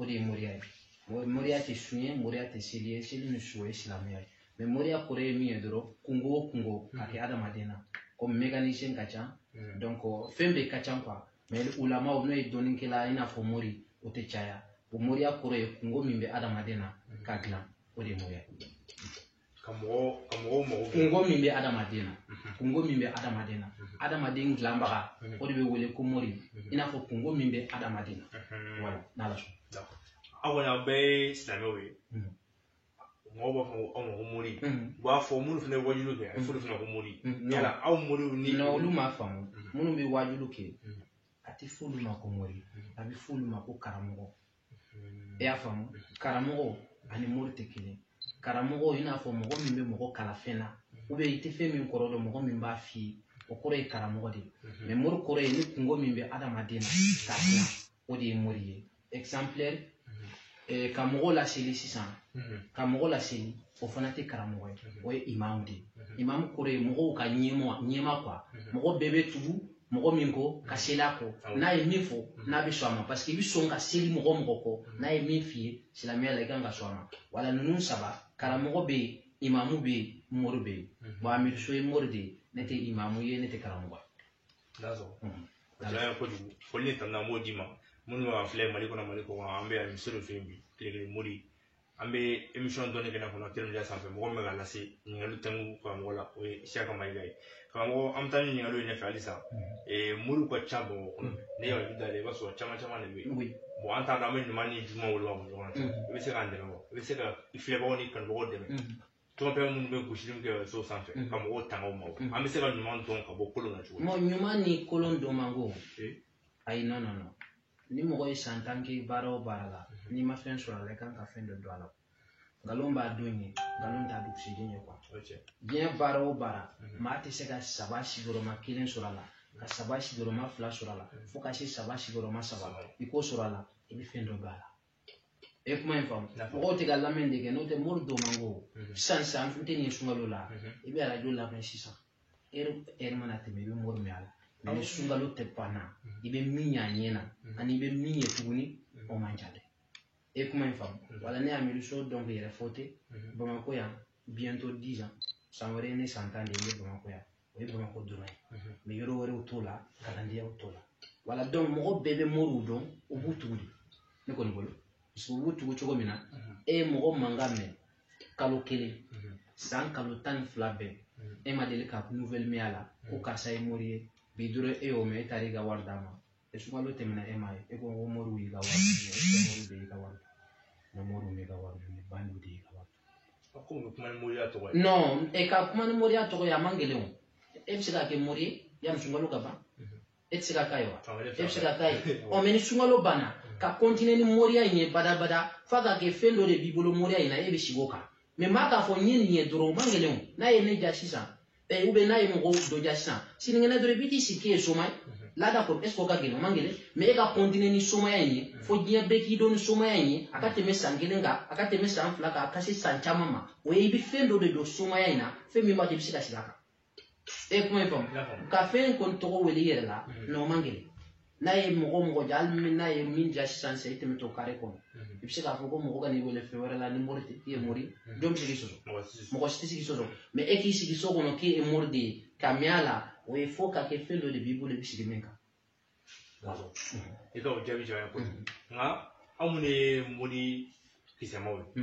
o de ye moriya ye moriya tɛ sun ye moriya tɛ seli ye seli ni sun ye silamɛya ye mais moriya kɔrɔ ye min ye dɔrɔn kunko o kunko ka kɛ adamaden na komi mekanisiyɛn ka ca donc fɛn bɛɛ ka ca quoi mais ulamaw n'o ye dɔnnikɛla i n'a fɔ mori o tɛ caya o moriya kɔrɔ ye kunko min bɛ adamaden na k'a dilan o de ye moriya ye ka mɔgɔw ka mɔgɔw mago bɛ kunko min bɛ adamaden na kunko min bɛ adamaden na adamaden dilanbaga o de bɛ wele ko mori i n'a fɔ kunko min bɛ adamaden na voilà n'ala sɔn aw kɔni aw bɛɛ ye silamɛw ye mɔgɔw b'a fɔ ko aw ma ko mori u b'a fɔ minnu fana ye wajuliw kɛ a bɛ fɔ olu fana ko mori yala aw moriw ni olu m'a faamu minnu bɛ wajuliw kɛ a tɛ fɔ olu ma ko mori a bɛ fɔ olu ma ko karamɔgɔ i y'a faamu karamɔgɔ ani mori tɛ kelen karamɔgɔ i n'a fɔ mɔgɔ min bɛ mɔgɔ kalan fɛn na u bɛ i tɛ fɛn min kɔrɔ dɔn mɔgɔ min b'a f'i ye o kɔrɔ ye karamɔgɔ de ye mais mori kɔrɔ ye ni kunko min bɛ adamaden na k'a dilan o de ye mori ye ka mɔgɔ laseli sisan ka mɔgɔ laseli o fana tɛ karamɔgɔ ye o ye imamu de ye imamu kɔrɔ ye mɔgɔw ka ɲɛmaa ɲɛmaa quoi mɔgɔ bɛɛ bɛ tugu mɔgɔ min kɔ ka seli a kɔ n'a ye min fɔ n'a bɛ sɔn a ma parce que i bɛ sɔn ka seli mɔgɔ mɔgɔ kɔ n'a ye min f'i ye silamɛya la i kan ka sɔn a ma voilà ninnu saba karamɔgɔ bɛ yen imamu bɛ yen mori bɛ yen bon amiru so ye mori de ye ne tɛ imamu ye ne tɛ karamɔgɔ ye kojugu foli ni tanu an b'o d'i ma minnu b'an filɛ mali kɔnɔ mali kɔkan an bɛ yan misiri fɛ yen bi tile kelen mori an bɛ emisɔn dɔnni kɛnɛ kɔnɔ teri média sanfɛ mɔgɔ min bɛ ka lase ɲininkali tɛmu karamɔgɔ la o ye siyaka mayiga ye karamɔgɔ an bɛ taa ni ɲininkaliw ye ɲɛfɛ halisa mori ka ca bamakɔ kɔnɔ ne yɛrɛ da la i b'a sɔrɔ caman caman de bɛ yen bon an t'a dɔn an bɛ ɲuman ni juguman woloma ɲɔgɔn na i bɛ se k'an dɛmɛ wa i bɛ se ka filɛbagaw ni kanubagaw dɛmɛ tɔnfɛn minnu bɛ gosili kɛ so sanfɛ ka mɔgɔw tanga o ma an bɛ se ka ɲuman dɔn ka bɔ kolon na cogo ɲuman ni kolon dɔn man go Ayi non non non ni mɔgɔ ye san tan kɛ baara o baara la n'i ma fɛn sɔrɔ a la i kan ka fɛn dɔ dɔn a la nkalon b'a don ye nkalon t'a dugusɛjɛ ye quoi diɲɛ baara o baara maa tɛ se ka saba sigiyɔrɔma kelen sɔrɔ a la ka saba sigiyɔrɔma fila sɔrɔ a la fo ka se saba sigiyɔrɔma saba ma i k'o sɔrɔ a la i bɛ fɛn dɔ bɔ a la e kuma in faamu mɔgɔw tɛ k'a lamɛn de kɛ n'o tɛ mori dɔn man go mhm. sisan sisan n tɛ nin sunkalo la mhm. i bɛ arajo lamɛn sisan ɛri ɛri mana tɛmɛ i bɛ mori mɛn a la mais ni sunkalo tɛmɛna mhm. i bɛ min y'a ɲɛ na ani i bɛ min ye tuguni o man ca dɛ e kuma in faamu voilà ne amiru so donc yɛrɛfɔ tɛ bamakɔ yan bientôt dix ans san wɛrɛ ye ne san tan de ye ne bamakɔ yan o ye bamakɔ dɔrɔn ye mais yɔrɔ wɛrɛw t'o la kalandenyaw t'o la voilà donc mɔgɔ bɛɛ bɛ moriw dɔn u b'u tugu de ne kɔni bolo parce que u b'u tugu cogo min na e ye mɔgɔ mankan mɛn kalo kelen san kalo tan ni fila bɛɛ e ma deli ka nouvelle mɛn a la ko karisa ye mori ye bi dɔrɔn e y'o mɛn e taara i ka wari d'a ma sunkalo tɛmɛna e ma e ko ko moriw y'i ka wari minɛ e ko moriw de y'i ka wari non moriw m'i ka wari minɛ bandiw de y'i ka wari a ko bɛ kuma ni moriya tɔgɔ ye non e ka kuma ni moriya tɔgɔ ye a man gɛlɛn o e bɛ se ka kɛ mori ye yanni sunkalo ka ban e tɛ se ka k'a ye wa e bɛ se ka k'a ye o mais ni sunkalo banna ka kɔntine ni moriya in ye badabada f'a ka kɛ fɛn dɔ de b'i bolo moriya in na e bɛ sigi o kan mais maa k'a fɔ n ye nin ye dɔrɔn o man gɛlɛn o n'a ye ne ja sisan eh, ou bien n'a ye mɔgɔ dɔ ja sisan sinikɛnɛ dɔrɔn i bɛ t'i sigi k'i ye soma ye là d'accord est-ce que o ka gɛlɛn o man gɛlɛn mais e ka kɔntine ni somaya in ye fo diɲɛ bɛɛ k'i dɔn ni somaya in ye a ka tɛmɛ san kelen kan a ka tɛmɛ san fila kan a ka se san caman ma o ye i bɛ fɛn dɔ de dɔn somaya in na fɛn min b'a to i bɛ se ka sigi a kan e kuma in faamu ka fɛn kɔni tɔgɔ wele i yɛrɛ la non o man gɛlɛn n'a ye mɔgɔ mɔgɔ ja hali min n'a ye min ja sisan sisan i tɛmɛtɔ kare kɔnɔ i bɛ se k'a fɔ ko mɔgɔ kan'i wele fɛn wɛrɛ la ni mori tɛ i ye mori jɔn bɛ se k'i sɔsɔ mɔgɔ si tɛ se k'i sɔsɔ mais e k'i sigi so kɔnɔ k'i ye mori de ye ka mɛn a la o ye fo ka kɛ fɛn dɔ de b'i bolo i bɛ sigi min kan. i ka o jaabi jɔn ye kojugu nka anw minnu ye mori kisɛmaw ye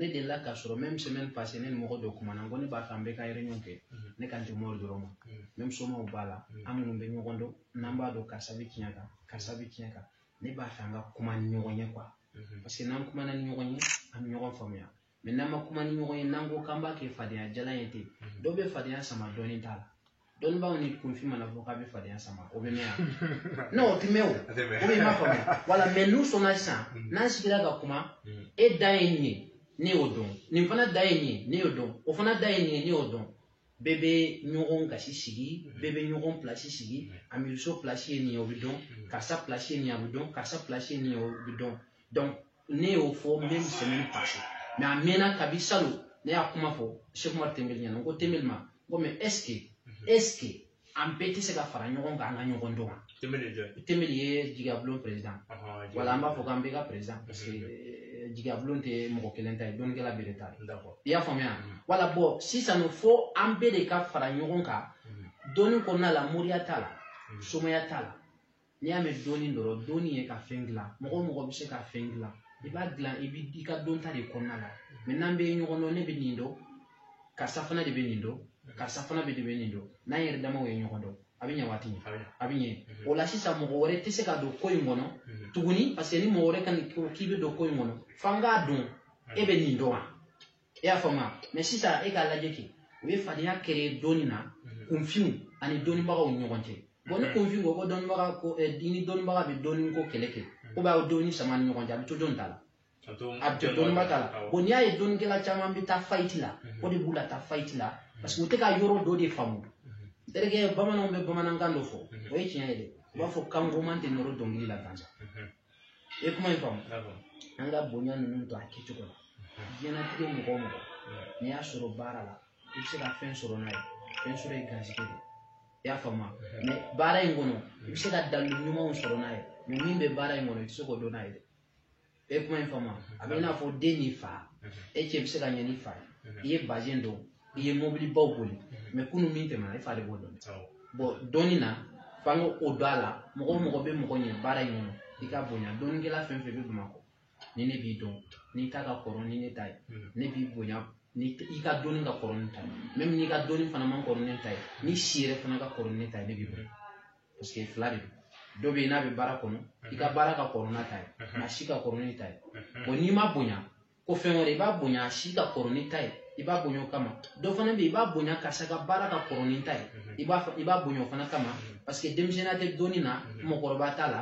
ne delila k'a sɔrɔ même semaine passée ne ni mɔgɔ dɔ kumana n ko ne b'a fɛ an bɛɛ ka réunion kɛ mm-hmm. ne kan tɛ mori dɔrɔn ma mm-hmm. même somaw b'a la mm-hmm. an minnu bɛ ɲɔgɔn dɔn n'an b'a dɔn karisa bɛ tiɲɛ kan karisa bɛ tiɲɛ kan ne b'a fɛ an ka kuma ni ɲɔgɔn ye quoi parce que n'an kumana ni ɲɔgɔn ye an bɛ ɲɔgɔn faamuya mais n'an ma kuma ni ɲɔgɔn ye n'an ko k'an b'a kɛ fadenya jalan ye ten dɔw bɛ fadenya sama dɔnni t'a la dɔnnibaaw ni kunfin mana fɔ k'a bɛ fadenya sama o bɛ mɛn yan non o tɛ mɛn o o bɛ ma faamuya voilà mais n'u sɔnna sisan mm. n'an sigira ka kuma mm. e dan ye nin ye ne y'o dɔn nin fana dan ye nin ye ne y'o dɔn o fana dan ye nin ye ne y'o dɔn bɛɛ bɛ ɲɔgɔn gasi sigi mm. bɛɛ bɛ ɲɔgɔn pilasi sigi amiruso pilasi ye nin ye o bɛ dɔn karisa pilasi ye nin ye a bɛ dɔn karisa pilasi ye nin ye o bɛ dɔn donc ne y'o fɔ même semaine passée mais a mɛnna kabi salon ne y'a kuma fɔ sɛki umaru tɛnbeli ɲɛna n ko tɛnbeli ma n ko mais est-ce que est-ce que an bɛɛ tɛ se ka fara ɲɔgɔn kan an ka ɲɔgɔn dɔn wa tɛnbeli ye jigiyabulon président wala an b'a fɔ k'an bɛɛ ka président parce que eh, jigiyabulon tɛ mɔgɔ kelen ta ye dɔnnikɛla bɛɛ de ta ye i y'a faamuya voilà bon sisan fo an bɛɛ de ka fara ɲɔgɔn kan dɔnni kɔnɔna la moriya t'a la somaya t'a la n'i y'a mɛn dɔnni dɔrɔn dɔnni ye ka fɛn dilan mɔgɔ o mɔgɔ bɛ se ka fɛn dilan i b'a dilan i b'i ka dɔnta de kɔnɔna la mais n'an bɛ ɲɔgɔn dɔn ne bɛ nin dɔn karisa fana de bɛ nin dɔn karisa fana bɛ de bɛ nin dɔn n'an yɛrɛ damaw ye ɲɔgɔn dɔn a bɛ ɲɛ waati min a bɛ ɲɛ mhm. o la sisan mɔgɔ wɛrɛ tɛ se ka don ko in kɔnɔ mhm. tuguni parce que ni mɔgɔ wɛrɛ ka nin k'i bɛ don ko in kɔnɔ f'an k'a dɔn e bɛ nin dɔn wa e y'a faamuya mais sisan e k'a lajɛ kɛ u ye fadenya kɛlɛ dɔnni na mhm. kunfinw ani dɔnnibagaw ni ɲɔgɔn cɛ bon ni mhm. kunfin ko ko dɔnnibaga ko eh, ni dɔnnibaga bɛ dɔnni ko kɛlɛ kɛ mhm. ko b'a dɔnni sama ni ɲɔgɔn cɛ a bɛ to dɔnni ta la a bɛ to dɔnniba ta la bon n'i y'a ye dɔnnikɛla caman bɛ taa fayiti la o de b'u la taa fayiti la parce que u tɛ ka yɔrɔ dɔ de faamu terikɛ bamananw bɛ bamanankan dɔ fɔ o ye tiɲɛ ye dɛ u b'a fɔ kan goman tɛ nɔrɔ dɔnkili la gansan i ye kuma in faamu an ka bonya ninnu to a kɛcogo la diɲɛnatigɛ mɔgɔ o mɔgɔ n'i y'a sɔrɔ baara la i bɛ se ka fɛn sɔrɔ n'a ye fɛn sɔrɔ ye garisɛgɛ de ye i y'a faamu mais baara in kɔnɔ i bɛ se ka dalilu ɲumanw sɔrɔ n'a ye mais min bɛ baara in kɔnɔ i tɛ se k'o dɔn n'a ye dɛ e kuma in faamu a bɛ i n'a fɔ den n'i fa e cɛ bɛ se ka ɲɛ n'i fa ye i ye bazɛn don i ye mɔbilibaw boli mais kunun min tɛmɛna e fa de b'o dɔn bon dɔnni na f'an k'o dɔn a la mɔgɔ o mɔgɔ bɛ mɔgɔ ɲɛ baara in kɔnɔ i k'a bonya dɔnnikɛla fɛn fɛn bɛ bamakɔ ni ne b'i dɔn n'i ta ka kɔrɔ ni ne ta ye ne b'i bonya ni i ka dɔnni ka kɔrɔ ni ta ye même n'i ka dɔnni fana man kɔrɔ ne ta ye n'i si yɛrɛ fana ka kɔrɔ ne ta ye ne b'i bonya parce que fila de don dɔ bɛ yen n'a bɛ baara kɔnɔ i ka baara ka kɔrɔ n'a ta ye nka a si ka kɔrɔ n'i ta ye bon n'i m'a bonya ko fɛn wɛrɛ i b'a bonya a si ka kɔrɔ n'i ta ye i b'a bonya o kama dɔ fana bɛ yen i b'a bonya karisa ka baara ka kɔrɔ n'i ta ye i b'a i b'a bonya o fana kama parce que denmisɛnninya tɛ dɔnni na mɔgɔkɔrɔba t'a la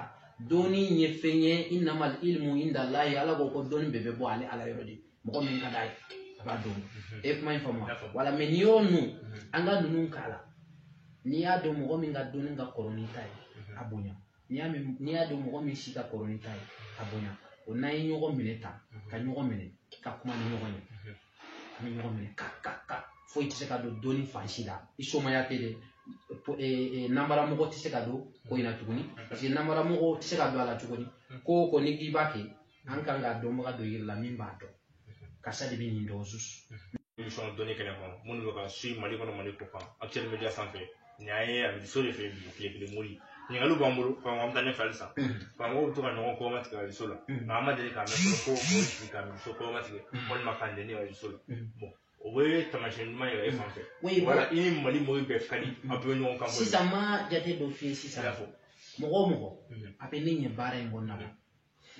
dɔnni ye fɛn ye innamal ilmu indallahi ala ko ko dɔnni bɛɛ bɛ bɔ ale ala yɔrɔ de mɔgɔ min ka d'a ye a b'a dɔn e kuma in faamu wala mais n'i y'o nu an ka ninnu k'a la n'i y'a dɔn mɔgɔ min ka dɔnni ka kɔrɔ n'i ta ye a bonya n'i y'a mɛn n'i y'a dɔn mɔgɔ min si ka kɔrɔ n'i ta ye a bonya o n'an ye ɲɔgɔn minɛ ta ka ɲɔgɔn minɛ ka kuma ni ɲɔgɔn ye an bɛ ɲɔgɔn minɛ ka ka ka foyi tɛ se ka don dɔnni fan si la i somaya tɛ dɛ nanbaramɔgɔ tɛ se ka don ko in na tuguni parce que nanbaramɔgɔ tɛ se ka don a la tuguni ko o ko n'i k'i b'a kɛ an kan ka dɔnbaga dɔ yira i la min b'a dɔn karisa de bɛ nin dɔn sus émission dɔnni kɛnɛ kɔnɔ minnu bɛ ka suivre mali kɔnɔ mali kɔkan actuel media sanfɛ nin y'an ye a bɛ so de fɛ bi tile kelen mori ɲininkaliw b'an bolo fan an bɛ taa ɲɛfɛ halisa karamɔgɔw bɛ to ka ɲɔgɔn kɔma tigɛ réseau la nka an ma deli k'a mɛn fɔlɔ ko o sigi ka so kɔma tigɛ walima k'a nɛni réseau la bon o bɛ taamasiyɛn ɲuman yira e fan fɛ wala i ni mali mɔgɔw bɛɛ ka di a bɛɛ ɲɔgɔn kan sisan ma jate dɔ f'i ye sisan mɔgɔ o mɔgɔ a bɛ ne ɲɛ baara in kɔnɔna na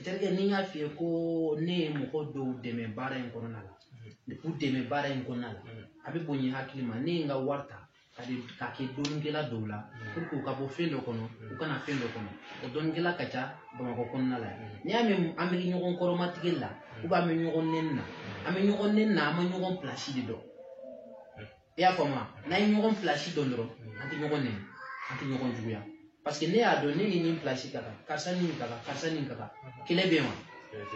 terikɛ ni n y'a f'i ye ko ne ye mɔgɔ dɔw dɛmɛ baara in kɔnɔna la u dɛmɛ baara in kɔnɔna la a bɛ bonya hakili ma ne ye n ka wari ta k'a di k'a kɛ dɔnnikɛla dɔw la pour que u ka bɔ fɛn dɔ kɔnɔ u ka na fɛn dɔ kɔnɔ o dɔnnikɛla ka ca bamakɔ kɔnɔna la yan n'i y'a mɛn an bɛ ɲɔgɔn kɔrɔmatigɛ la ou bien an bɛ ɲɔgɔn nɛni na an bɛ ɲɔgɔn nɛni na an ma ɲɔgɔn pilasi de dɔn i y'a faamu n'an ye ɲɔgɔn pilasi dɔn dɔrɔn an tɛ ɲɔgɔn nɛni an tɛ ɲɔgɔn juguya parce que ne y'a dɔn ne ni nin pilasi ka kan karisa ni nin ka kan karisa ni nin ka kan kɛlɛ bɛ yen wa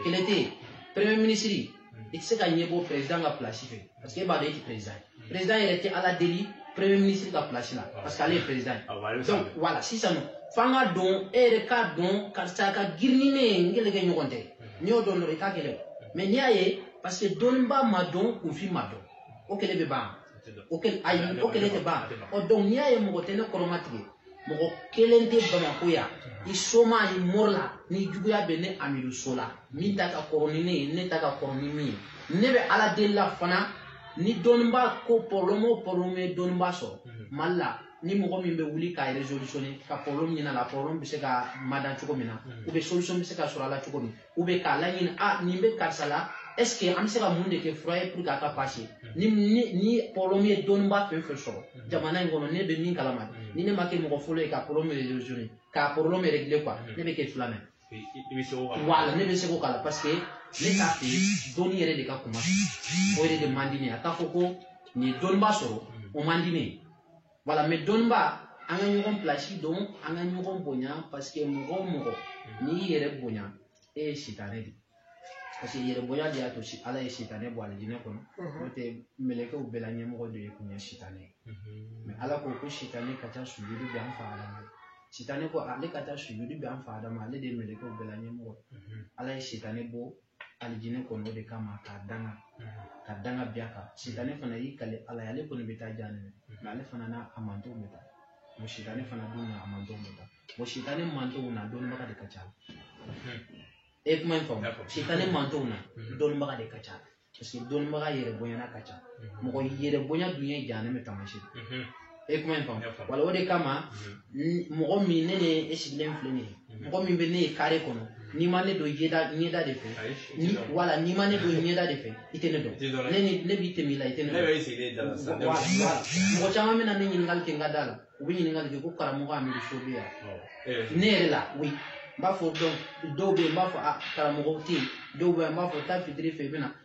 kɛlɛ tɛ yen premier ministre i tɛ se ka ɲɛ bɔ président ka pilasi fɛ parce que e b'a dɔn e tɛ président ye président yɛrɛ tɛ ala deli premier ministre ka pilasi la parce que ale ye président ye donc voilà sisan nɔ f'an ka dɔn e yɛrɛ k'a dɔn karisa ka girin ni ne ye n kɛlɛkɛɲɔgɔn tɛ n'i y'o dɔn dɔrɔn i t'a kɛlɛ mais n'i y'a ye parce que dɔnnibaa ma dɔn kunfin ma dɔn o kɛlɛ bɛ ban o kɛlɛ ayi o kɛlɛ tɛ ban ɔ donc n'i y'a ye mɔgɔ tɛ ne kɔrɔmatigɛ mɔgɔ kelen tɛ bamakɔ yan ni soma ni mori la ni juguya bɛ ne amidu so la min ta ka kɔrɔ ni ne ye ne ta ka kɔrɔ ni min ye ne bɛ ala deli la fana ni dɔnnibaa ko problème o problème ye dɔnnibaa sɔrɔ mhm. mali la ni mɔgɔ min bɛ wuli k'a resolutionner ka problème ɲɛna la problème bɛ se ka mada cogo min na mhm. ou bien solution bɛ se ka sɔrɔ a la cogo min u bɛ k'a laɲini a ah, nin bɛ karisa la est-ce que an bɛ se ka mun de kɛ fura ye pour que a ka passer hmm. ni ni ni problème ye dɔnniba fɛn fɛn sɔrɔ hmm. jamana in kɔnɔ ne bɛ min kalama hmm. ni ne ma kɛ mɔgɔ fɔlɔ ye ka problème résoudre ka problème régler quoi ne bɛ kɛ filanan ye i bɛ se k'o k'a la voilà ne bɛ se k'o k'a la parce que ne t'a fɛ dɔnni yɛrɛ de ka kuma o yɛrɛ de man di ne ye a ka fɔ ko nin ye dɔnniba sɔrɔ o man di ne ye voilà mais dɔnniba an ka ɲɔgɔn pilasi dɔn an ka ɲɔgɔn bonya parce que mɔgɔ o mɔgɔ n'i y'i yɛrɛ bonya e ye sitanɛ de parce que yɛrɛ bonya de y'a to si ala ye sitanɛ bɔ alijinɛ kɔnɔ n'o tɛ mɛlɛkɛw bɛɛ la ɲɛmɔgɔ de kun ye sitanɛ ye mais ala ko ko sitanɛ ka taa sujudu bin an fa adama sitanɛ ko ale ka taa sujudu bin an fa adama ale de ye mɛlɛkɛw bɛɛ la ɲɛmɔgɔ ala ye sitanɛ bɔ alijinɛ kɔnɔ o de kama k'a danga ka danga bin a kan sitanɛ fana y'i kali ala ye ale kɔni bɛ taa jahanama mais ale fana n'a mantonw bɛ taa o sitanɛ fana dun n'a mantonw bɛ taa o sitanɛ mantonw na dɔnnibaga de ka ca e kuma in faamu sitanɛ mantonw na dɔnnibaga de ka ca parce que dɔnnibaga yɛrɛ bonyana ka ca mɔgɔ yɛrɛ bonya dun ye jahanama taamasiyɛn e kuma in faamu voilà o de kama mɔgɔ min ne ne e sigilen filɛ nin ye mɔgɔ min bɛ ne ye kare kɔnɔ n'i ma ne dɔn ɲɛda ɲɛda de fɛ voilà n'i ma ne dɔn ɲɛda de fɛ i tɛ ne dɔn ne ni ne bɛ tɛmɛ i la i tɛ ne dɔn mɔgɔ caman bɛ na ne ɲininkali kɛ n ka da la u bɛ ɲininkali kɛ ko karamɔgɔ amidu so bɛ yan ne yɛrɛ la oui n b'a fɔ dɔw bɛ yen n b'a fɔ a karamɔgɔ tɛ yen dɔw bɛ yen n b'a fɔ taa fitiri fɛ i bɛ na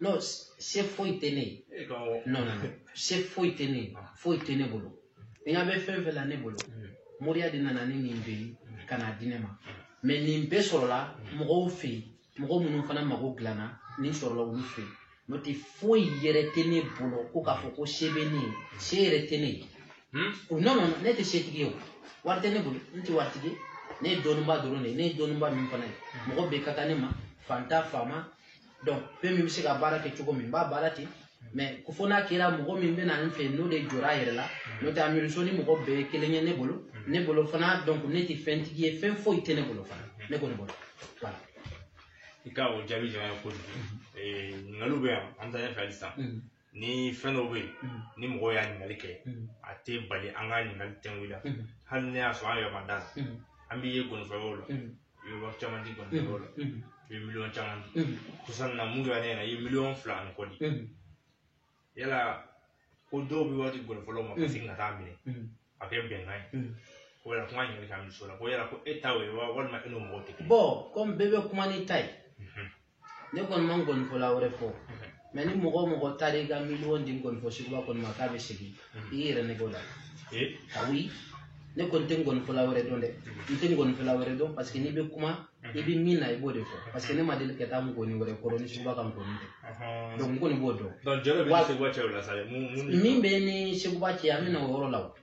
non se foyi tɛ ne ye e non non se foyi tɛ ne ye ah. foyi tɛ ne bolo e ɲɛ bɛ fɛn fɛn la ne bolo mm. moriya de nana ni nin bɛɛ ye ka n'a di ne ma mais nin bɛɛ sɔrɔla mm. mɔgɔw fɛ yen mɔgɔ minnu fana mago dilanna nin sɔrɔla olu fɛ yen n'o tɛ foyi yɛrɛ tɛ ne bolo ko k'a fɔ ko se bɛ ne ye se yɛrɛ tɛ ne ye hmm? o non non ne tɛ setigi ye o wari tɛ ne bolo n tɛ waritigi ne ye dɔnnibaa dɔrɔn de ye ne ye dɔnnibaa min fana ye hmm. mɔgɔ bɛɛ ka kan ne ma fanta faama donc fɛn min bɛ se ka baara kɛ cogo min n b'a baara ten mais ko fo n'a kɛra mɔgɔ min bɛ na n fɛ n'o de jɔra a yɛrɛ la n'o tɛ amirisɔn ni mɔgɔ bɛɛ ye kelen ye ne bolo ne bolo fana donc ne tɛ fɛntigi ye fɛn foyi tɛ ne bolo fana ne kɔni bolo voilà. i ka o jaabi diyara n ye kojugu ɲininkaliw bɛ yan an bɛ taa ɲɛfɛ halisa ni fɛn dɔw bɛ yen mm. ni mɔgɔw y'a ɲininkali kɛ mm. a tɛ bali an ka ɲininkali tɛngu la mm. hali n'a y'a sɔrɔ an yɛrɛ ma da a la an b'i ye nkɔnifɔyɔrɔ la i bɛ wari caman di nkɔnifɔyɔrɔ la i bɛ miliyɔn caman di sisan na min kɛra an ɲɛna i ye miliyɔn fila ani kɔ di yala ko dɔw bɛ wari di nkɔnifɔlaw ma ka segin ka taa a minɛ a kɛ bɛnkan ye ko yala kuma ɲininkali ka misi o la ko yala ko e ta y'o ye walima e n'o mɔgɔw tɛ kelen ye. bon kɔmi bɛɛ bɛ kuma n'i ta ye. ne kɔni ma nkɔnifɔla wɛrɛ fɔ mais ni mɔgɔ o mɔgɔ taara i ka miliyɔn di nkɔnifɔ seguba kɔni ma k'a bɛ segin i yɛrɛ ne b'o la oui ne kɔni tɛ nkɔnifɔla wɛrɛ dɔn dɛ n tɛ nkɔnifɔla wɛrɛ dɔn parce que n'i bɛ kuma i bɛ min na i b'o de fɔ parce que ne ma deli ka taa nkɔni wɛrɛ kɔrɔ ni seguba ka nkɔni tɛ donc n kɔni b'o dɔn min b'i ni seguba cɛ an bɛ na o yɔrɔ la o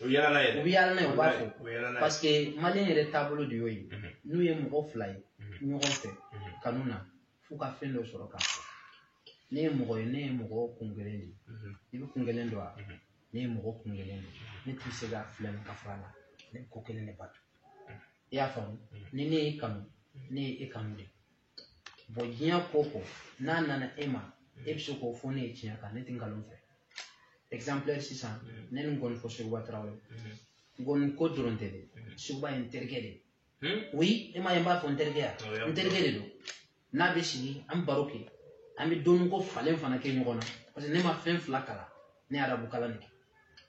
u bɛ yaala n'a ye u bɛ yaala n'a ye u b'a fɔ parce que maliyɛn yɛrɛ taabolo de y'o ye n'u ye mɔgɔ fila ye ɲɔgɔn fɛ kanu na f'u ka fɛn dɔ sɔrɔ k'a fɔ ne ye mɔgɔ ye ne ye mɔgɔ kun kelen de ye i bɛ kun kelen dɔn wa ne ye mɔgɔ kun kelen de ye ne tɛ se ka filɛ nin ka fara la ne ko kelen de bato i y'a faamu ni ne y'i kanu ne ye e kanu de bon diɲɛ ko ko n'a nana e ma e bɛ se k'o fɔ ne ye tiɲɛ kan ne tɛ nkalon fɛ exemplaire sisan mm. ne ni nkɔnifɔ seguba tarawele mm-hmm. nkɔni ko dɔrɔn tɛ dɛ mm-hmm. seguba ye n terikɛ de ye hmm? oui e m'a ye n b'a fɔ n terikɛ ya oh, n terikɛ de don ne n'a bɛ sigi an baro kɛ an bɛ dɔnniko falen fana kɛ ɲɔgɔn na parce que ne ma fɛn fila kalan ne ye arabu kalan de kɛ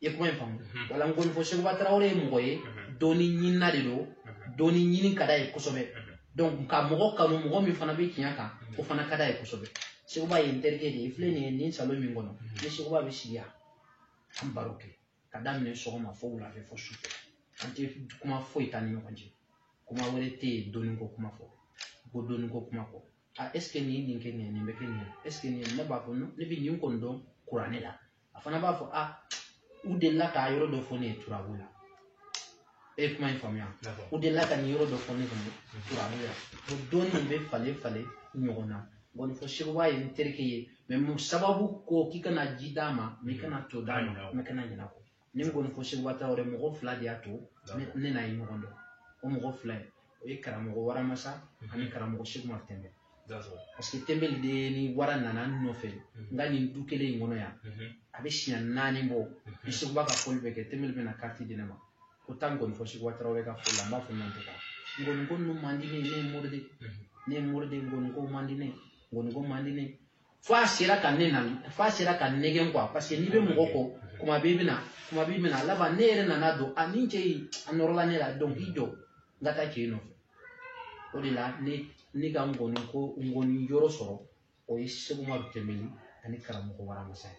i kuma in faamu mhm. voilà nkɔnifɔ seguba tarawele ye mɔgɔ ye mhm. dɔnni ɲinina de don mhm. dɔnni ɲini ka d'a ye kosɛbɛ donc ka mɔgɔ kanu mɔgɔ min fana bɛ tiɲɛ kan o fana ka d'a ye kosɛbɛ seguba ye n terikɛ de ye filɛ nin ye nin salon min kɔnɔ n ni seguba bɛ sigi yan an baro kɛ ka daminɛ sɔgɔma fo wulafɛ fo sufɛ an tɛ kuma foyi t'an ni ɲɔgɔn cɛ kuma wɛrɛ tɛ yen dɔnniko kuma fɔ kɔ dɔnniko kuma fɔ a est ce que nin ye nin kɛ nin ye nin bɛ kɛ nin ye est ce que nin ye ne b'a fɔ ne bɛ nin kɔni dɔn kuranɛ la a fana b'a fɔ a u delila k'a yɔrɔ dɔ fɔ ne ye turabu la e ye kuma in faamuya u delila ka nin yɔrɔ dɔ fɔ ne kɔni turabu la o dɔnni in bɛ falen falen ɲɔgɔn na nkɔnifɔ seguba ye n terikɛ ye mais mun sababu ko k'i kana ji d'a ma mais i kana to d'a ma mais kana ɲinɛ a kɔ n ni nkɔnifɔ seguba tarawele mɔgɔ fila de y'a to ne n'a ye ɲɔgɔn dɔn o mɔgɔ fila ye o ye karamɔgɔ waramasa ani karamɔgɔ seguma tɛnbɛli parce que tɛnbɛli de ni wara nana n nɔfɛ n ka nin du kelen in kɔnɔ yan a bɛ siɲɛ naani bɔ ni seguba ka fɔli bɛ kɛ tɛnbɛli bɛna kariti di ne ma ko taa ngɔni fɔ seguba tarawele ka fɔli la n b'a f'a ma n tɛ taa ngɔni ko ninnu man di ne ye ne ye mori de ne ye mori de ngɔni ko man di ne ye ngɔni ko man di ne ye fo a sera ka ne na fo a sera ka n nɛgɛn quoi parce que n'i bɛ mɔgɔ kɔ kuma b'i bɛna kuma b'i bɛna laban ne yɛrɛ nana dɔn a ni cɛ in a nɔrɔla ne la donc i jɔ n ka taa cɛ in nɔfɛ o de la ne ne ka ngɔni ko ngɔni yɔrɔ sɔrɔ o ye seguma tɛnbɛli ani karamɔgɔ waramasa ye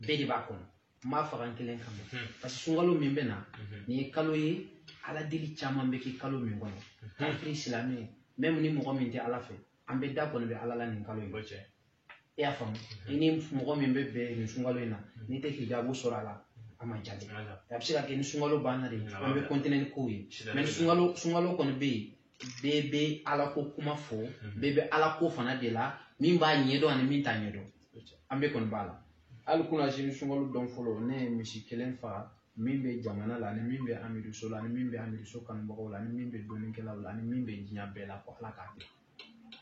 bɛɛ de b'a kɔnɔ n m'a faga n kelen kama hmm. parce que sunkalo min bɛ na hmm. nin ye kalo ye ala deli caman bɛ kɛ kalo min kɔnɔ hmm. kafiri silamɛ même ni mɔgɔ min tɛ ala fɛ an bɛɛ da kɔni bɛ ala la nin kalo in cɛ i y'a faamu i ni mɔgɔ min bɛ bɛn nin sunkalo in na n'i tɛ hijabu sɔrɔ a la a ma jaabi a bɛ se ka kɛ ni sunkalo banna de an bɛ continuer ni kow ye mais sunkalo sunkalo kɔni bɛ yen bɛɛ bɛ alako kuma fɔ mhm. bɛɛ bɛ alako fana de la min b'a ɲɛdɔn ani min t'a ɲɛdɔn an bɛɛ kɔni b'a la hali kunasini sunkalo don fɔlɔ ne ye misi kelen faga min bɛ jamana la ani min bɛ amiriso la ani min bɛ amiriso kanubagaw la ani min bɛ dɔnnikɛlaw la ani min bɛ diɲɛ bɛɛ la ko ala k'a kɛ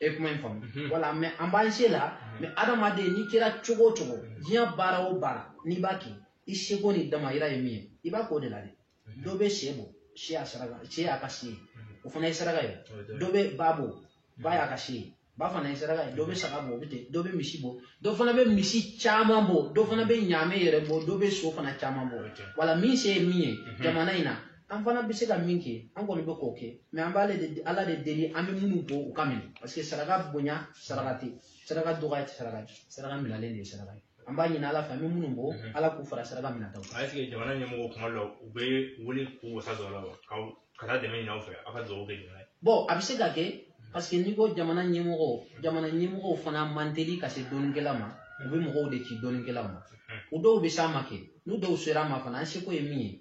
e kuma in faamu mhm. voilà mais an b'an se la mhm. mais adamaden n'i kɛra cogo o cogo diɲɛ baara o baara n'i b'a kɛ i seko n'i damayira ye min ye i b'a k'o de la dɛ dɔ bɛ sɛ bɔ sɛ y'a saraka sɛ y'a ka se ye o fana ye saraka ye dɔ bɛ ba bɔ ba y'a ka se ye ba fana ye saraka ye dɔ bɛ saga bɔ o bɛ ten dɔ bɛ misi bɔ dɔ fana bɛ misi caman bɔ dɔ fana bɛ ɲaamɛ yɛrɛ bɔ dɔ bɛ so fana caman bɔ voilà min se ye min ye mhm. jamana in na an fana bɛ se ka min kɛ an kɔni bɛ k'o kɛ mais an b'ale de ala de deli an bɛ minnu bɔ u ka minɛ parce que saraka bonya saraka tɛ saraka dɔgɔya tɛ saraka saraka minɛlen de ye saraka ye an b'a ɲini ala fɛ an bɛ minnu bɔ mhm. ala k'u fara saraka minɛtaw kan est-ce que jamana ɲɛmɔgɔw kuma dɔ u bɛ wuli k'u wasa don a la wa ka taa dɛmɛ ɲini aw fɛ aw ka dugawu kɛ jamana ye bon a bɛ se ka kɛ parce que n'i ko jamana ɲɛmɔgɔ jamana ɲɛmɔgɔw fana man teli ka se dɔnnikɛla ma u bɛ mɔgɔw de ci dɔnnikɛla ma mhm. u dɔw bɛ s'a ma kɛ n'u dɔw sera a ma fana an seko ye min ye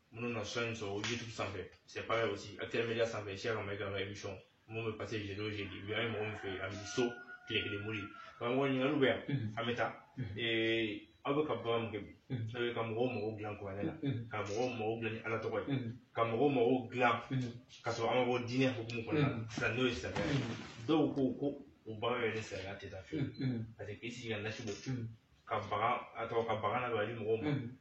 minnu na son sɔrɔ youtube sanfɛ c'est pareil aussi actuel media sanfɛ cheikh a maïga ka émission min bɛ passer jeudi o jeudi bi an ye mɔgɔ min fɛ yen a bɛ so tile kelen mori karamɔgɔ ɲininkaliw bɛ yan an bɛ taa aw bɛ ka baara min kɛ bi aw bɛ ka mɔgɔw mago dilan kuranɛ la ka mɔgɔw mago dilan ni ala tɔgɔ ye ka mɔgɔw mago dilan ka sɔrɔ an ma bɔ diinɛ hukumu kɔnɔna na sisan n'o ye silamɛya ye dɔw ko ko o baara yɛrɛ ni silamɛya tɛ taa fiyewu parce que k'i sigi ka nasi bɔ ka bagan a tɔgɔ ka bagan na don a di mɔgɔw ma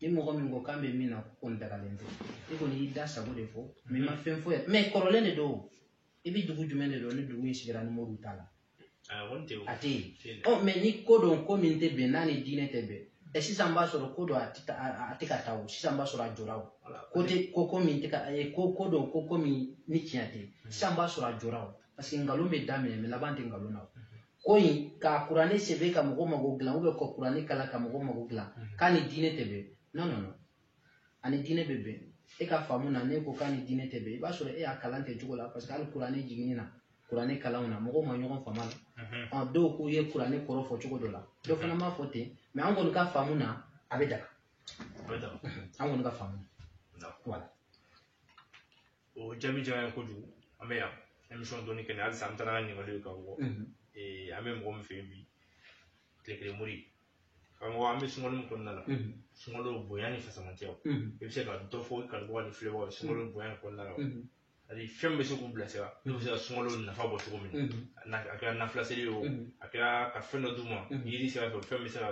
ni mɔgɔ min ko k'an bɛ min na k'o kɔni dagalen tɛ i kɔni y'i da sago de fɔ mais i ma fɛn foyi mɛ kɔrɔlen de don i bɛ dugu jumɛn de dɔn ni dugu in sigira ni moriw t'a la a tɛ yen ɔ mais ni ko don ko min tɛ bɛn n'a ni diinɛ tɛ bɛn ɛ sisan b'a sɔrɔ ko don a tɛ a tɛ ka taa o sisan b'a sɔrɔ a jɔra o ko tɛ ko ko min tɛ ka ko ko don ko ko min ni tiɲɛ tɛ sisan b'a sɔrɔ a jɔra o parce que nkalon bɛ daminɛ mais laban tɛ nkalon na ko in ka kuranɛ sɛbɛn ka mɔgɔ mago dilan ou bien ka kuranɛ kalan ka mɔgɔ mago dilan k'a ni diinɛ tɛ bɛn non non non a ni diinɛ bɛ bɛn e ka faamu na n'e ko k'a ni diinɛ tɛ bɛn i b'a sɔrɔ e y'a kalan kɛ cogo la parce que hali kuranɛ jiginni na kuranɛ kalanw na mɔgɔw ma ɲɔgɔn faamu a la ɔ dɔw k'u ye kuranɛ kɔrɔ fɔ cogo dɔ la dɔ fana m'a fɔ ten mais an kɔni ka faamu na a bɛ daga an kɔni ka faamu na voilà o jaabi diyara n ye kojugu an bɛ yan émission dɔnni kɛnɛ halisa an bɛ taa n'an ka ɲininkali ye ka bɔ ee an bɛ mɔgɔ min fɛ yen bi tile kelen mori karamɔgɔ an bɛ sunkalo min kɔnɔna la sunkalo bonya ni fisamantiyaw i bɛ se ka dɔ fɔ i kanubaga ni filɛbagaw ye sunkalo bonya ni kɔnɔna la ani fɛn min bɛ se k'u bilasira n'u bɛ se ka sunkalo nafa bɔ cogo min na a kɛra nafila seli ye o a kɛra ka fɛn dɔ d'u ma yiri sira fɛ fɛn bɛ se ka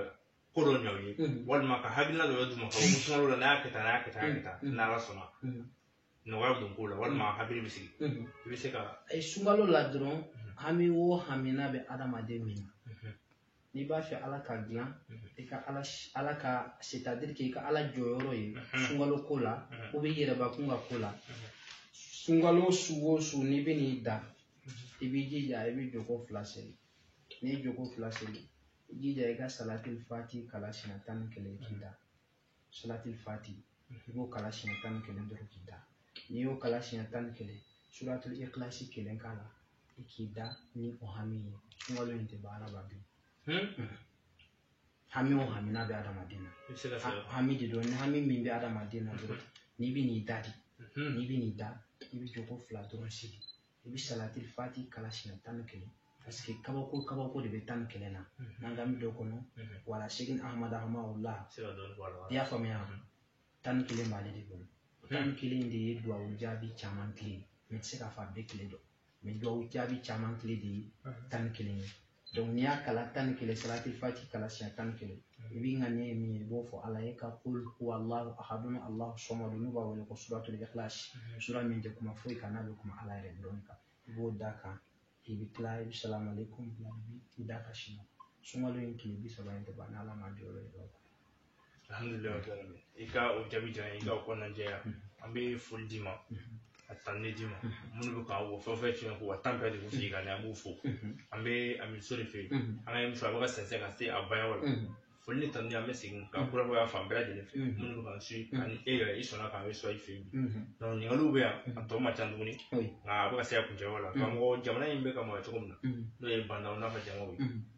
ko dɔ ɲɛ u ye walima ka hakilina dɔ d'u ma ka bɔ sunkalo la n'a y'a kɛ tan n'a y'a kɛ tan n'a y'a kɛ tan n'ala sɔnna nɔgɔya bɛ don ko la walima mm. hakili bɛ sigi mm-hmm. i bɛ se ka a ye sunkalo la dɔrɔn mm-hmm. hami o hami n'a bɛ adamaden min na mm-hmm. n'i b'a fɛ ala k'a dilan i ka ala ala ka c'est-à-dire k'i ka ala jɔyɔrɔ ye sunkalo ko la ou bien i yɛrɛbakun ka ko la sunkalo su o su n'i bɛ n'i da i b'i jija i bɛ jɔko fila seli n'i ye jɔko fila seli i jija i ka salatil fati kalan siɲɛ tan ni kelen k'i da salatil fati i b'o kalan siɲɛ tan ni kelen dɔrɔn k'i da n'i y'o kalan siɲɛ tan ni kelen suratul ikilasi kelen k'a la i k'i da ni o hami ye sunkalo in tɛ ban ala b'a jaabi hami o hami n'a bɛ adamaden na hami de don ni hami min bɛ adamaden na dɔrɔn n'i bɛ n'i da de n'i bɛ n'i da i bɛ jɔko fila dɔrɔn seli i bɛ salatil fati kalan siɲɛ tan ni kelen parce que kabako kabako de bɛ tan ni kelen na n'an k'an bɛ don a kɔnɔ voilà sɛki ahamadu hamala i y'a faamuya tan ni kelen b'ale de bolo tan ni kelen de ye duwawu jaabi caman kile mais n tɛ se k'a fɔ a bɛɛ kile don mais duwawu jaabi caman kile de ye tan ni kelen ye donc n'i y'a kalan tan ni kelen salatil fati kalan siɲɛ tan ni kelen i b'i ŋaniya ye min ye i b'o fɔ ala ye ka kul huwallahu ahadun allahu samadu n'u b'a wele ko suratul ikhlas sura min tɛ kuma foyi kan n'a bɛ kuma ala yɛrɛ dɔrɔn kan i b'o d'a kan i bɛ tila i bɛ salamu aleykum bila i b'i da ka sinɔgɔ sunkalo in tile bi saba in tɛ ban n'ala ma jɔyɔrɔ ye alhamdulilayi o diyara n ye i ka o jaabi diyara n ye i ka o kɔnɔna jɛya an bɛ foli d'i ma a tanni d'i ma minnu bɛ k'an wɔ fɛn fɛn tiɲɛ ko wa tan bɛɛ de bɛ sigi ka na an b'u fo an bɛ amiso de fɛ yen an ka émission a bɛ ka sɛnsɛn ka se a banyɔrɔ la foli ni tanni an bɛ segin ka kurakuraya fan bɛɛ lajɛlen fɛ minnu bɛ k'an suivre ani e yɛrɛ i sɔnna k'an bɛ sɔn i fɛ yen donc ɲininkaliw bɛ yan a tɔ man ca tuguni nka a bɛ ka se a kuncɛyɔrɔ la karamɔgɔ jamana in bɛ ka mara cogo min na n'o ye bandaw n'a fɔ jamaw ye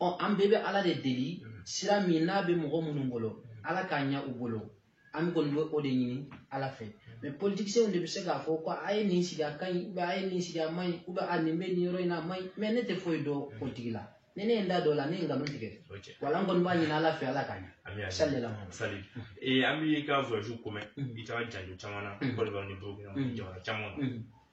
ɔ an bɛɛ bɛ ala de deli sira min n'a bɛ mɔgɔ minnu bolo ala k'a ɲɛ u bolo an kɔni bɛ o de ɲini ala fɛ mais politiciens de bɛ se k'a fɔ ko a ye nin sigi a ka ɲi ou bien a ye nin sigi a man ɲi ou bien a nin bɛ nin yɔrɔ in na a man ɲi mais ne tɛ foyi dɔn politiki la ni ne ye n da don o la ne ye nkalon tigɛ wala n kɔni b'a ɲini ala fɛ ala k'a ɲɛ sali la sali an b'i ka voyage ko mɛn i taara janjo caman na kɔdiwari ni burukina jamana caman na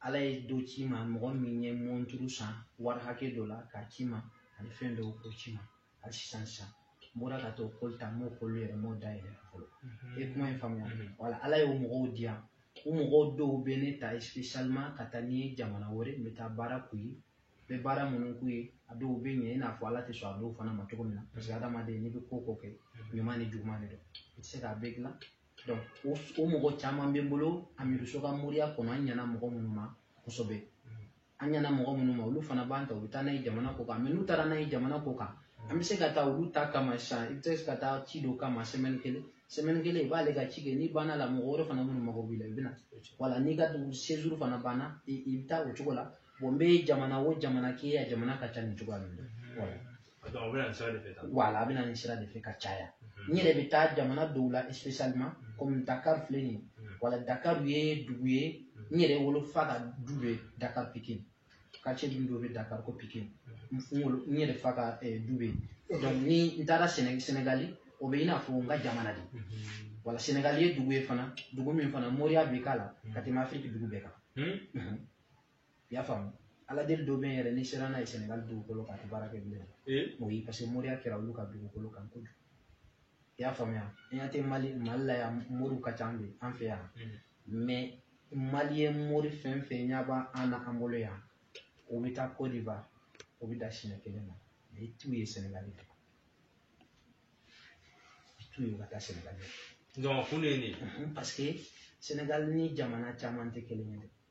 ala ye dɔ ci n ma mɔgɔ min ye mɔnturu san wari hakɛ dɔ la k'a ci n ma ani fɛn dɔw k'o ci n ma hali sisan sisan n bɔra ka t'o koli ta n m'o koli yɛrɛ n m'o dayɛlɛ fɔlɔ mhm. i ye kuma in faamuya mhm. wala ala y'o mɔgɔw di yan o mɔgɔw dɔw bɛ ne ta spécialement ka taa ni n ye jamana wɛrɛ n bɛ taa baara k'u ye n bɛ baara minnu k'u ye a dɔw bɛ ɲɛ i n'a fɔ ala tɛ sɔn a dɔw fana ma cogo min na parce que adamaden n'i bɛ ko ko kɛ mhm. ɲuman ni juguman de don i tɛ se k'a bɛɛ dilan o o mɔgɔ caman bɛ n bolo amiduso ka moriya kɔnɔ an ɲɛna mɔgɔ minnu ma kosɛbɛ an ɲɛna mɔgɔ minnu ma olu fana b'an ta u bɛ taa n'an ye jamana kɔ kan mais n'u taara n'an ye jamana kɔ kan an bɛ se ka taa olu ta kama sisan i bɛ se ka taa ci dɔ kama sɛmɛni kelen sɛmɛni kelen i b'ale ka ci kɛ n'i banna la mɔgɔ wɛrɛ fana minnu mago b'i la i bɛ na wala n'i ka séjour fana banna i bɛ taa o cogo la bon n bɛ jamana o jamana kɛ a jamana ka ca nin cogoya ninnu na a bɛ na nin sira de fɛ wala a bɛ na nin sira de fɛ ka caya n yɛrɛ bɛ taa jamana dɔw la spécialement komi Dakar filɛ nin ye wala Dakar ye dugu ye n yɛrɛ wolofa ka du bɛ Dakar Pikine quartier dun dɔ bɛ Dakar ko Pikine n wolo n yɛrɛ fa ka du bɛ yen donc ni n taara Séné Sénégali o bɛ i n'a fɔ n ka jamana de wala Sénégali ye dugu ye fana dugu min fana moriya bɛ k'a la ka tɛmɛ Afiriki dugu bɛɛ kan. i y'a faamu ala deli dɔ bɛ yen yɛrɛ n'i sera n'a ye sɛnɛgali dugukolo kan a tɛ baara kɛ bilen o ye parce que moriya kɛra olu ka dugukolo kan kojugu i y'a faamuya an y'a tɛ mali mali la yan moriw ka ca an bɛ an fɛ yan mais maliyɛn mori fɛn fɛn ɲɛ b'a an na an bolo yan o bɛ taa kɔdiwari o bɛ da siɲɛ kelen na mais i t'u ye sɛnɛgali fɛ i t'u ye u ka taa sɛnɛgali fɛ donc kun de ye nin parce que sɛnɛgali ni jamana caman tɛ kelen ye dɛ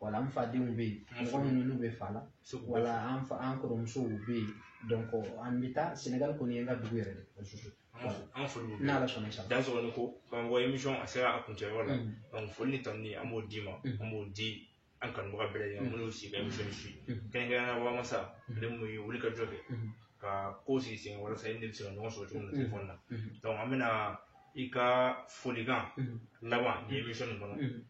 wala an fadenw bɛ yen mɔgɔ minnu n'u bɛ fa la wala an fa an kɔrɔmusow bɛ yen donc an bɛ taa sɛnɛgali kɔni ye n ka dugu yɛrɛ de an foli n'ala sɔnna sa dansɔgɔ ni ko k'an bɔ emisɔn a sera a kuncɛyɔrɔ la donc foli ni tanuni an b'o d'i ma an b'o di an kanubaga bɛɛ lajɛlen minnu sigi ka emisɔn suivre kɛrɛnkɛrɛnnenya la wamasa ale min ye wuli ka jɔ kɛ ka ko sigi sen walasa i ni bɛ se ka ɲɔgɔn sɔrɔ cogo min na telefɔni na donc an bɛna i ka folikan laban nin emisɔn nin kɔnɔ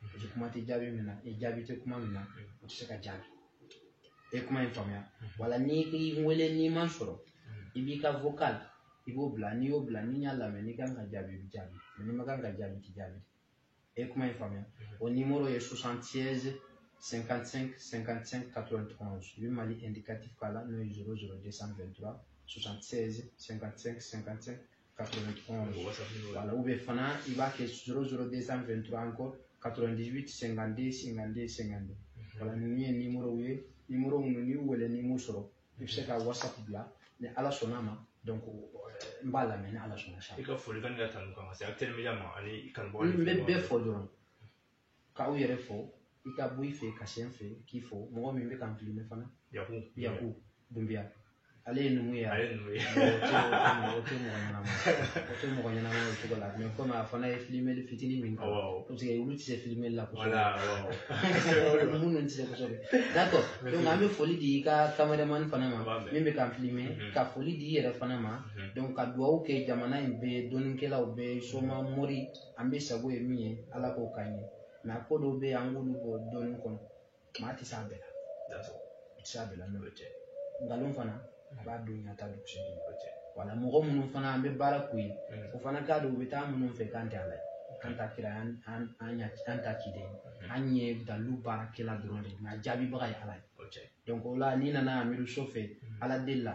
parce que kuma tɛ jaabi min na i jaabi tɛ kuma min na o tɛ se ka jaabi e kuma in faamuya voilà n'i ye n wele n'i ma n sɔrɔ i b'i ka vocal i b'o bila n'i y'o bila ni n y'a lamɛn n'i kan ka jaabi i bɛ jaabi n'i man kan ka jaabi i tɛ jaabi e kuma in faamuya o nimoro ye 76 55 55 91 i bɛ mali indicatif k'a la n'o ye 00 223 76 55 55 wala u bɛ fana i b'a kɛ zoro zoro de san fɛn tura an kɔ katɔrɔndizwiti sɛnkande sɛnkande sɛnkande wala ninnu ye nimorow ye nimoro minnu n'i y'u wele n'i m'u sɔrɔ i bɛ se ka wasapu bila ni ala sɔnna ma donc n b'a lamɛn ni ala sɔnna sa i ka folikan ni ka tanu kan ka se a teliya ma ani kanubagaw n bɛ bɛɛ fɔ dɔrɔn k'aw yɛrɛ fo i ka bɔ i fɛ ka se n fɛ k'i fo mɔgɔ min bɛ k'an filime fana yaku yaku dunbiya ale ye numu ye ale ye numu ye o tɛ mɔgɔ ɲɛnama o tɛ mɔgɔ ɲɛnama o cogo la mais comme a fana ye filimeli fitinin min kɛ parce que olu tɛ se filimeli la kosɛbɛ minnu tɛ se kosɛbɛ d'accord donc an bɛ foli di i ka cameraman fana ma min bɛ k'an filime ka foli di i yɛrɛ fana ma donc ka dugawu kɛ jamana in bɛɛ dɔnnikɛlaw bɛɛ soma mori an bɛɛ sago ye min ye ala k'o k'an ye mais a ko dɔw bɛ yen an k'olu bɔ dɔnni kɔnɔ maa tɛ s'a bɛɛ la i tɛ s'a bɛɛ la n'o tɛ nkalon fana a b'a don ɲa ta don cɛ wala mɔgɔ minnu fana an bɛ baara k'u ye o fana k'a dɔn u bɛ taa minnu fɛ k'an tɛ ala ye an tɛ kira an an an ɲa an tɛ ciden an ye dalilu baarakɛla dɔrɔn de nka jaabibaga ye ala ye donc o la n'i nana amidu so fɛ ala deli la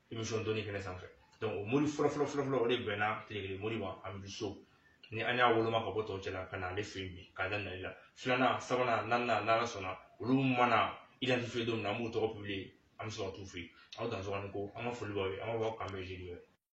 émission dɔnni kɛnɛ sanfɛ donc o mori fɔlɔ fɔlɔ fɔlɔ fɔlɔ o de bɛnna tilekele mori ma amidu so ni an y'a woloma ka bɔ tɔw cɛla ka na ale fɛ yen bi k'a da nali la filanan sabanan naaninan n'ala sɔnna olu mana identifier don min na an b'u tɔgɔ publier an bɛ sɔrɔ ka t'u fɛ yen aw dansɔgɔ ni ko an ka foli b'aw ye an b'a fɔ aw k'an bɛn jeudi wɛrɛ